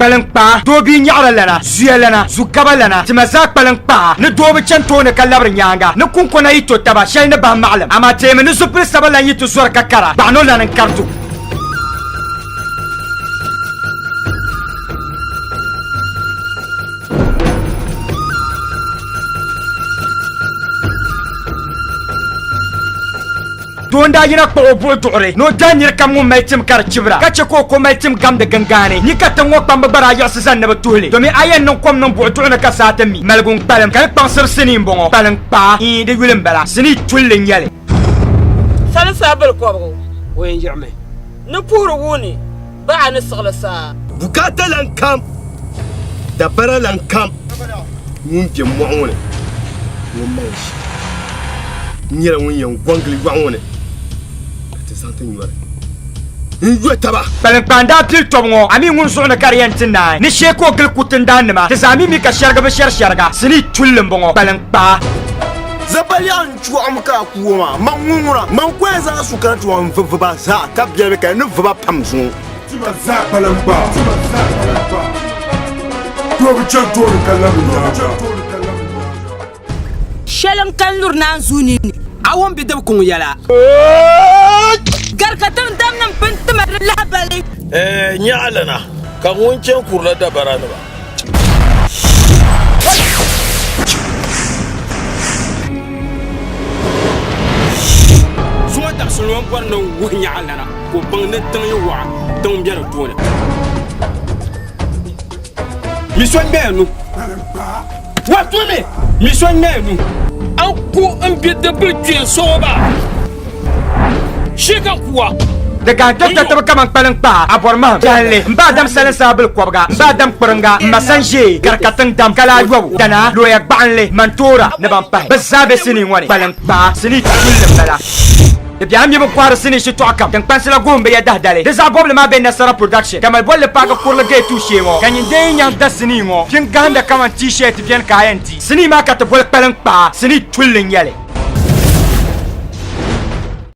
Kpaliŋkpaa doo bia nyaɣira lana, zuya lana, zu gaba lana, tima zaa kpaliŋkpaa ni doo bi chani tooni ka labiri nyaaŋa ni kunkona yi to taba shɛli ni bahi maɣilim, amaa teemi ni zupil saba lan yi ti zɔri ka kara gbaɣi no lana n-kari tu. Doo n-daa yina kpuɣi o buɣi duɣiri ni o daai nir kam ŋun mali tim ka di chibira, ka chɛ ka o ko mali tim gamdi gingaani. Nyi ka tiŋ ŋɔ kpamba gba daa yiɣisi zani ni bɛ tuhi li, domin a yɛn niŋ kom niŋ buɣi duɣu ni ka saa ti mi. Maligu n-kpalim, ka di kpaŋsiri sinii m-bɔŋɔ. Kpalim kpaa? Ii, di yuli m-bala. Sinii tulli n-nyɛ li. Sani saa bilikɔbigu o yɛn yiɣimi ni puhiri wuuni. baɣa ni siɣili saa. Bukaata lan kam, dabara lan kam ŋun be mɔɣu ŋɔ ni ŋɔ mali ʒiɛ. N nyɛla ŋun yɛn gɔŋgili yɔɣu ŋɔ ni ka ti zaŋ ti nyɔri n-yo taba. Kpaliŋkpaandaa pili tɔbu ŋɔ, a mi ŋun zuɣu ni ka di yɛn ti naai ni shee ka o gili kuriti n-daannima ti zaa mi mi ka shɛrigi bi shɛri shɛriga sinii tulli m-bɔŋɔ, kpaliŋkpaa. Chuɣum ka a kuwo maa, man ŋun ŋuna, man kɔya zaa su kana ti wan vi viba zaa, ka biɛlibi ka ni viba pam zuŋɔ. Tima zaa kpalim gbaa, doo bi chani tooni ka labi nyaaŋa. Shɛli n kani luri naanzuu ninni. A wan bi dibi kuŋ yɛla. Gari ka tiŋdamnim pini ti mali di lahibali. Ɛ nyaɣili na, ka ŋun chani kurila dabaranima. Zuma taɣisili ŋɔ bɔri ni wuhi nyaɣa lana ka o baŋ ni tiŋ yi waɣa tiŋ bɛ di tooni. Mi so ŋmɛya nu. Wato me, mi so naya nu. An ku n bi di bili kpee soɣo ba. Shi ka kuwa. Di gahi dɔkta tibi kaman kpaliŋ kpaa, abɔri mahim, jahili, m ba Adam salin saa bili kɔbiga, m ba Adam kpiringa, m ma san ʒee, gari ka tiŋ dam, kala ayɔbu, danaa, looya gbaɣinli, mantoora ni ban pahi. Bɛ zaa be sinii ŋɔ ni. Kpaliŋ kpaa sinii tuuli m-bala. Di bɛya mi bi kɔhiri sinii shitɔɣu kam tiŋkpansi la gohim bɛ ya dahi dali. Di zaɣ bɔbili maa be Nasara Production, Tamale bolli paaki kurili gate tuhi shee ŋɔ. Ka nyin dee yi nyaŋ da sinii ŋɔ pini gahinda kaman T-shirt beni ka a yɛn di. Sinii maa ka ti boli kpaliŋ kpaa sinii tulli n-nyɛli.